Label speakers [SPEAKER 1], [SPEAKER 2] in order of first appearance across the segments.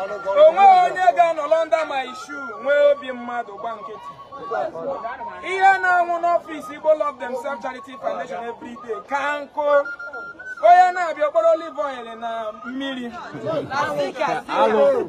[SPEAKER 1] o nweghị onye ga-anọrọ under my shoe nwee obi mmadụ gba nkịtị ihe na-anwụ n'ọfịs Igbo Love Themselves Charity Foundation every day ka nkụ onye na-abịa o kporo olive oil na mmiri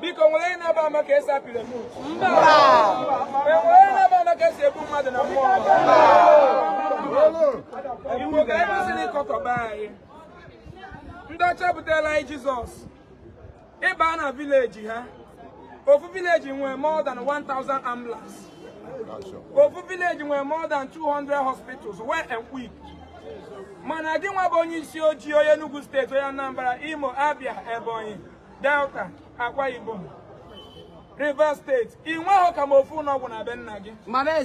[SPEAKER 1] biko o nwere onye na-agba ama ka esi apịrị moto o nwere onye na-agba ama ka esi egbu mmadụ na mmụọ iwu ka anyị kwesịrị n'ịkọkọba anyị ndị ọcha butela anyị jizọs ị baa na vileji ha ofu vileji nwere more than 1000 ambulance ofu vileji nwere more than 200 hospitals well equipped mana gị nwa bụ onye isi ojii onye Enugu steeti onye Anambra Imo Abia Ebonyi Delta, Akwa Ibom, Rivers steeti ị nweghị ka ma ofu ụlọọgwụ na be nna gị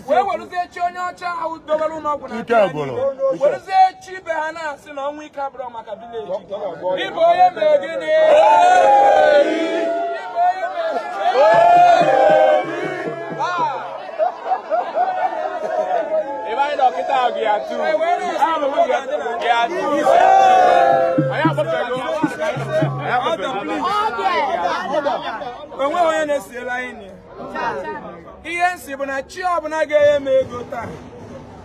[SPEAKER 1] wee werụzie chi onye ọcha ahụ dobere ụlọọgwụ na be anyị werụzie chi be ha na-asị na ọnwa ike abụrụ maka vileji ịbụ onye mere gịnị ịbụ onye mere o nweghị onye na-esiela anyị ihe m sị bụ na chi ọbụla ga-enye m ego taa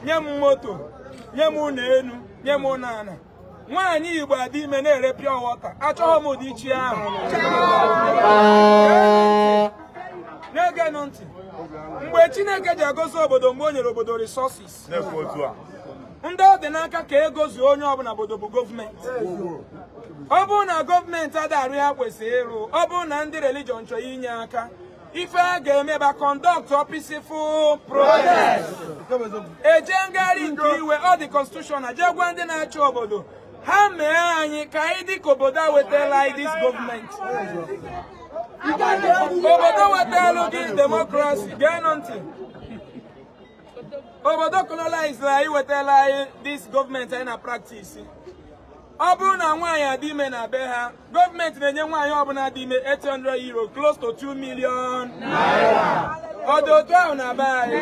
[SPEAKER 1] nye m moto nye m ụlọ elu nye m ụlọ ala nwaanyị Igbo adị ime na-ere pure water achọghị m ụdị chi ahụ na geenụ ntị mgbe Chineke ji agọzi obodo mgbe o nyere obodo resources ndị ọ dị n'aka ka ego zuo onye ọbụla n'obodo bụ gọọmenti ọ bụrụ na gọọmenti adị arụ ihe ha kwesịrị ịrụ ọ bụrụ na ndị religion chọrọ inye aka ife a ga-eme bụ a conduct peaceful protest e jee ngagharị nke iwe ọ dị constitutional jee gwa ndị na-achị obodo ha mee anyị ka anyị dị ka obodo a wetala anyị this gọọmenti obodo wetala gị demokrasi geenụ ntị obodo koloniziri anyị wetala anyị this gọọmenti anyị na practice ọ bụrụ na nwaanyị adị ime na be ha gọọmenti na-enye nwaanyị ọbụla dị ime 800 euro close to 2 million ọ dị otu ahụ na be anyị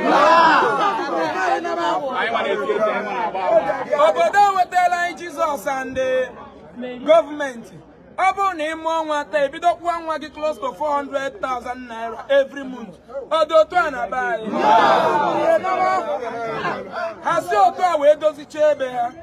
[SPEAKER 1] obodo wetara anyị jizọs and gọọmenti ọ bụrụ na ị mụọ nwa taa e bido kwụwa nwa gị close to 400,000 naira every month ọ dị otu a na be anyị ha si otu a wee dozichaa ebe ha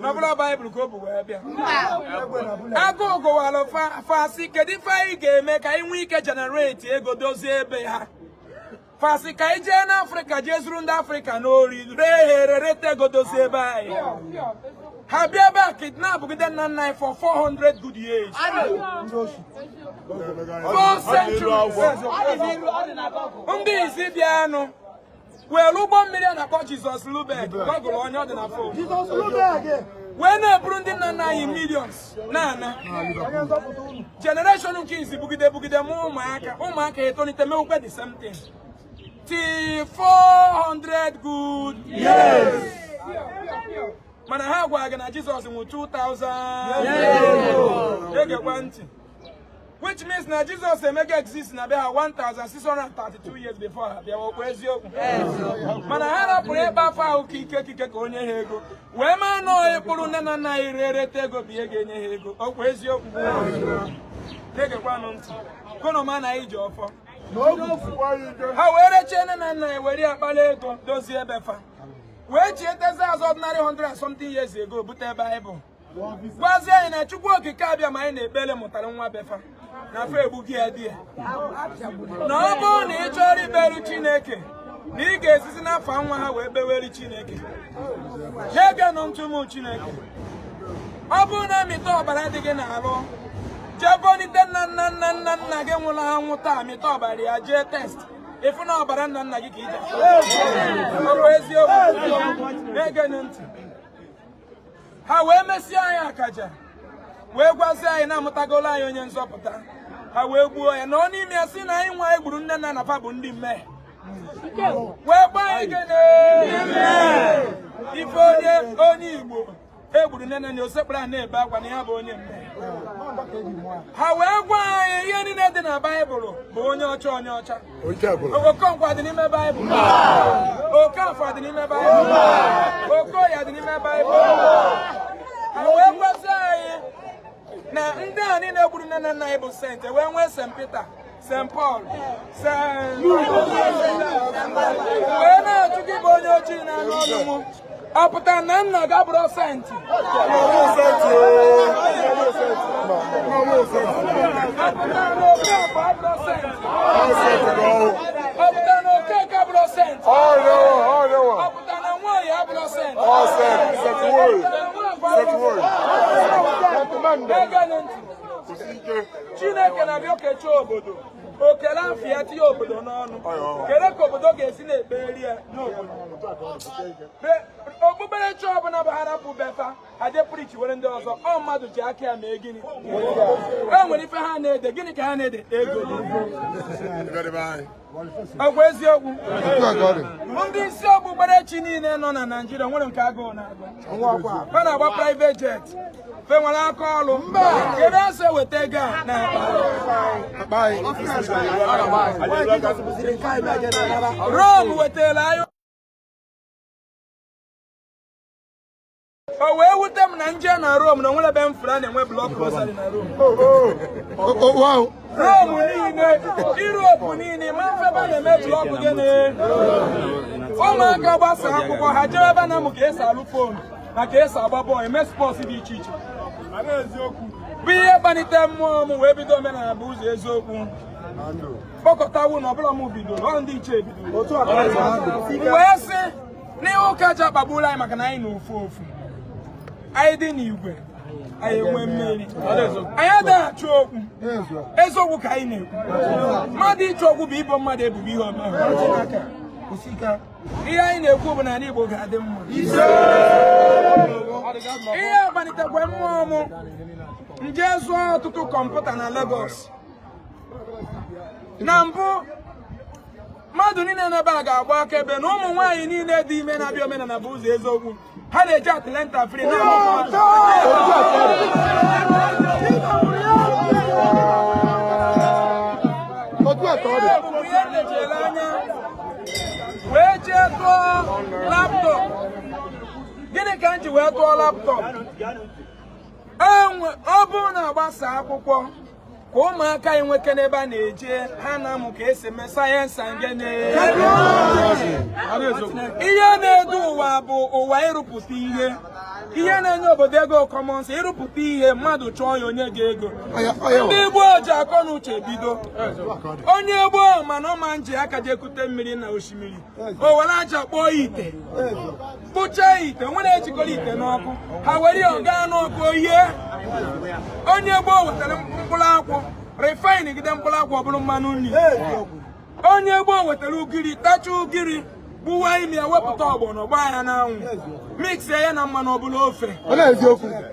[SPEAKER 1] n'ọbụla baịbụl ka o bu wee bịa agụụ gụwara fa sị kedu ife anyị ga-eme ka anyị nwee ike generate ego dozie ebe ha fa sị ka anyị jee n'afrịka jee zuru ndị afrịka n'ori ree ha ere reta ego dozie ebe anyị ha bịa ebe a kidnapụgide nna nna anyị for 400 good years four centuries ndị izizi bịanụ were ụgbọ mmiri a na-akpọ Jizọs Lubeck Google ya ọ dị na fon wee na-eburu ndị nna nna anyị millions na-ana generation nke izizi bugide bugide ma ụmụaka ụmụaka etolite mewukwe the same thing till 400 good years mana ha gwara gị na Jizọs nwụ 2000 gekwa ntị which means na Jizọs emego exist na be ha 1632 years before ha bịawa okwu eziokwu mana ha rapụrụ ịkpọ afa ahụ ka ike kike ka o nye ha ego wee maa na ọ ịkpụrụ nne na nna anyị rere reta ego bụ ihe ga-enye ha ego okwu eziokwu na-egekwanụ ntị ka unu ma na anyị ji ọfọ ha wee rechie nne na nna anyị were ya kpara ego dozie ebe fa wee chietezi azụ ordinary 100 something years ago bute Baịbụl gwazie anyị na chukwu okike abịama anyị na-ekpere mụtara nwa be fa na fa egbugo ya di ya na ọ bụrụ na ị chọrọ ikpere chineke na ị ga-esizi n'afa nwa ha wee kpewere chineke na-egenụ ntị ụmụ chineke ọ bụrụ na a mịta ọbara dị gị n'arụ jee bonite nna nna nna nna nna gị nwụrụ anwụ taa mịta ọbara ya jee test ị fụ na ọbara nna nna gị ka i ji ọ bụ eziokwu na-egenụ ntị ha wee mesie anyị akaja wee gwazie anyị na a mụtagolo anyị onye nzọpụta ha wee gbuo ya nọọ n'ime ya sị na anyị nwa e gburu nne na nna fa bụ ndị mmehie wee gwa anyị gene ife onye onye igbo e gburu nne na nna ya o sekpuru ana na-ebe akwa na ya bụ onye mmehie ha wee gwa anyị ihe niile dị na baịbụl bụ onye ọcha onye ọcha Okonkwo adị n'ime Baịbụl Okafọ adị n'ime Baịbụl Okoye adị n'ime Baịbụl ha wee gwazie anyị na ndị a niile gburu nne na nna anyị bụ saint e wee nwee St. Peter St. Paul wee na-ajụ gị bụ onye ojii na-anụ onu mụ ọ pụtara na nna ga bụrụ senti Chineke na-abịa okechi obodo o kele afọ ya tinye obodo n'ọnụ kele ka obodo ga-esi na-ekpere ya n'obodo okpukperechi ọbụla bụ ha rapụ be fa ha je preachiere ndị ọzọ ọ mmadụ ji aka ya mee gịnị o nwere ife ha na-ede gịnị ka ha na-ede ego ọgwa eziokwu ndị isi okpukperechi niile nọ na naijiria o nwere nke agụụ na-agụ ha na-agba private jet fe nwere aka ọrụ ebe a na-esi eweta ego a na Rom wetara anyị o wee wute m na m je na Rom na o nwere ebe m fụrụ a na-enwe block rosary na Rom Rom niile Europe niile ma m fụ ebe a na-eme block gịnị ụmụaka gbasa akwụkwọ ha jebe ebe a na-amụ ka e si alụ phone na ka e si agba bọọlụ eme sports dị iche iche bụ ihe kpalite mmụọ m wee bido omenala bụ ụzọ eziokwu kpọkọtawu na ọ bụrọ m bidoro ọ ndị ichie bidoro wee sị na ihe ụka ji akpagburu anyị maka na anyị nọ ofu ofu anyị dị n'igwe anyị enwe mmeri anyị adịghị achụ okwu eziokwu ka anyị na-ekwu mmadụ ịchụ okwu bụ ibo mmadụ ebubo ihe o me ihe anyị na-ekwu bụ na ala Igbo ga-adị mma ihe kpalitekwa mmụọ mụ m je zụọ ọtụtụ kọmputa na Lagos na mbụ mmadụ niile n'ebe a ga-agba akaebe na ụmụ nwaanyị niile dị ime na-abịa omenala bụ ụzọ eziokwu ha na-eje antenatal free anyị wee jee tụọ laptop gịnị ka m ji wee tụọ laptop ọ bụrụ na a gbasa akwụkwọ ka ụmụaka anyị nwee ike n'ebe a na-eje ha na-amụ ka e si eme sayensị ngene ihe na-edu ụwa bụ ụwa ịrụpụta ihe ihe na-enye obodo ego commerce ịrụpụta ihe mmadụ chọọ ya onye ga-ego ndị igbo ji akọ na uche bido onye gboo ma na ọ ma-eji aka je kute mmiri na osimiri o were aja kpụọ ite kpụchaa ite nwere ejikọrọ ite n'ọkụ ha were ya gaa n'ọkụ oyie onye gboo wetara mkpụrụ akwụ refine gide mkpụrụ akwụ ọ bụrụ mmanụ nri onye gboo wetara ugiri tacha ugiri gbuwaa ime ya wepụta ọgbọnọ gbaa ya n'anwụ mixie ya na mmanụ ọ bụrụ ofe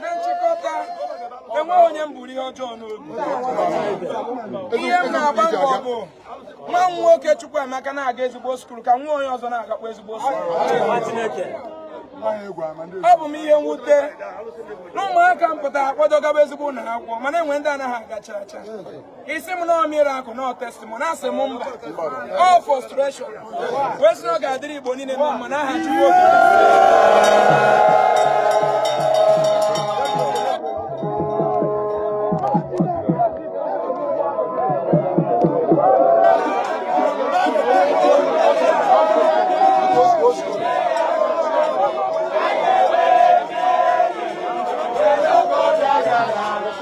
[SPEAKER 1] na nchịkọta enweghị onye m buru ihe ọjọọ n'obi ihe m na-agba mbọ bụ nwa m nwoke Chukwuemeka na-aga ezigbo skul ka nwa onye ọzọ na-agakwa ezigbo skul ọ bụ m ihe mwute na ụmụaka m pụtara akwado gaba ezigbo ụlọ akwụkwọ mana e nwee ndị anaghị aga cha cha ị sị m na ọ miracle na ọ testimony asị m mba ọ frustration wee sị na ọ ga-adịrị igbo niile na mma n'aha chukwu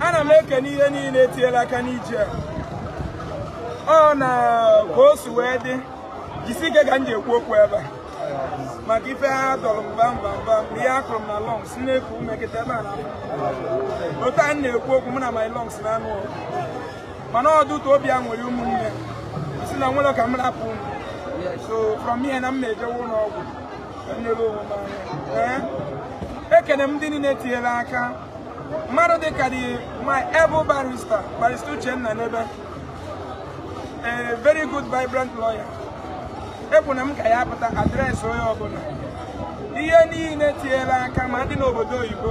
[SPEAKER 1] ana m ekene ihe niile tinyere aka n'ije a ọ na ka o si wee dị jisi ike ka m ji ekwu okwu ebe a maka ife ha dọrọ mba mba mba ihe ha kụrụ m na lungs m na-eku ume kịta mana otu a m na-ekwu okwu mụ na my lungs na-anụ mana ọdụtụ obi a nwere ụmụnne si na nwere ka m rapụ so from here na m na-ejewe ụlọ ọgwụ nyere onwe m aka ekene m ndị niile tinyere aka mmadụ dịka the my able barrister barrister Uchenna Nnebe a very good vibrant lawyer ekwu na m ka ya pụta address onye ọbụla ihe niile tinyere aka ma ndị n'obodo oyibo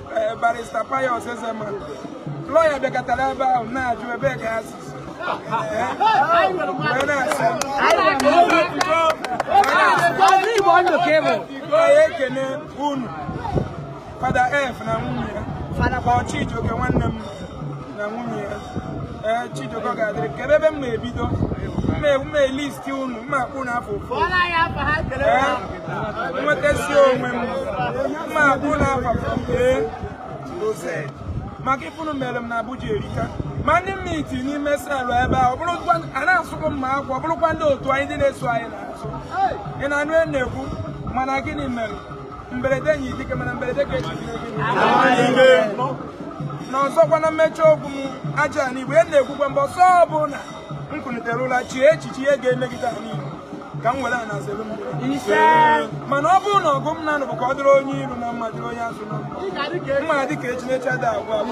[SPEAKER 1] Eh, barrister Pius Ezema lawyer bịakọtara ebe ahụ na-ajụ ebe ka ya si onye ekene unu fada ef na nwunye ya Chijioke nwanne m na nwunye ya ee Chijioke ga-adịrị kebe ebe m na-ebido m ma-elist unu m ma-akpọ unu afa ofu nwetasị onwe m m ma-akpọ unu afa ee maka ife unu mere m na Abuja erika ma ndị m meet n'ime cell ebe a a na-asụkụ mma akwa ọ bụrụkwa ndị otu anyị ndị na-eso anyị na-asụ ị na-anụ na-ekwu mana gịnị mere mberede nyiri dike mana mberede ka eji na ọzọkwa na mmechi okwu m aja ana igbo a na-ekwukwa mbọsị ọbụla m kunitere ụla chee echiche ihe ga-emegide anyị ka m were ana zere mmiri mana ọ bụrụ na ọgụ m na-anụ bụ ka ọ dịrị onye iru na mma dịrị onye azụ na mma dị ka echi na echi ada agwụ agwụ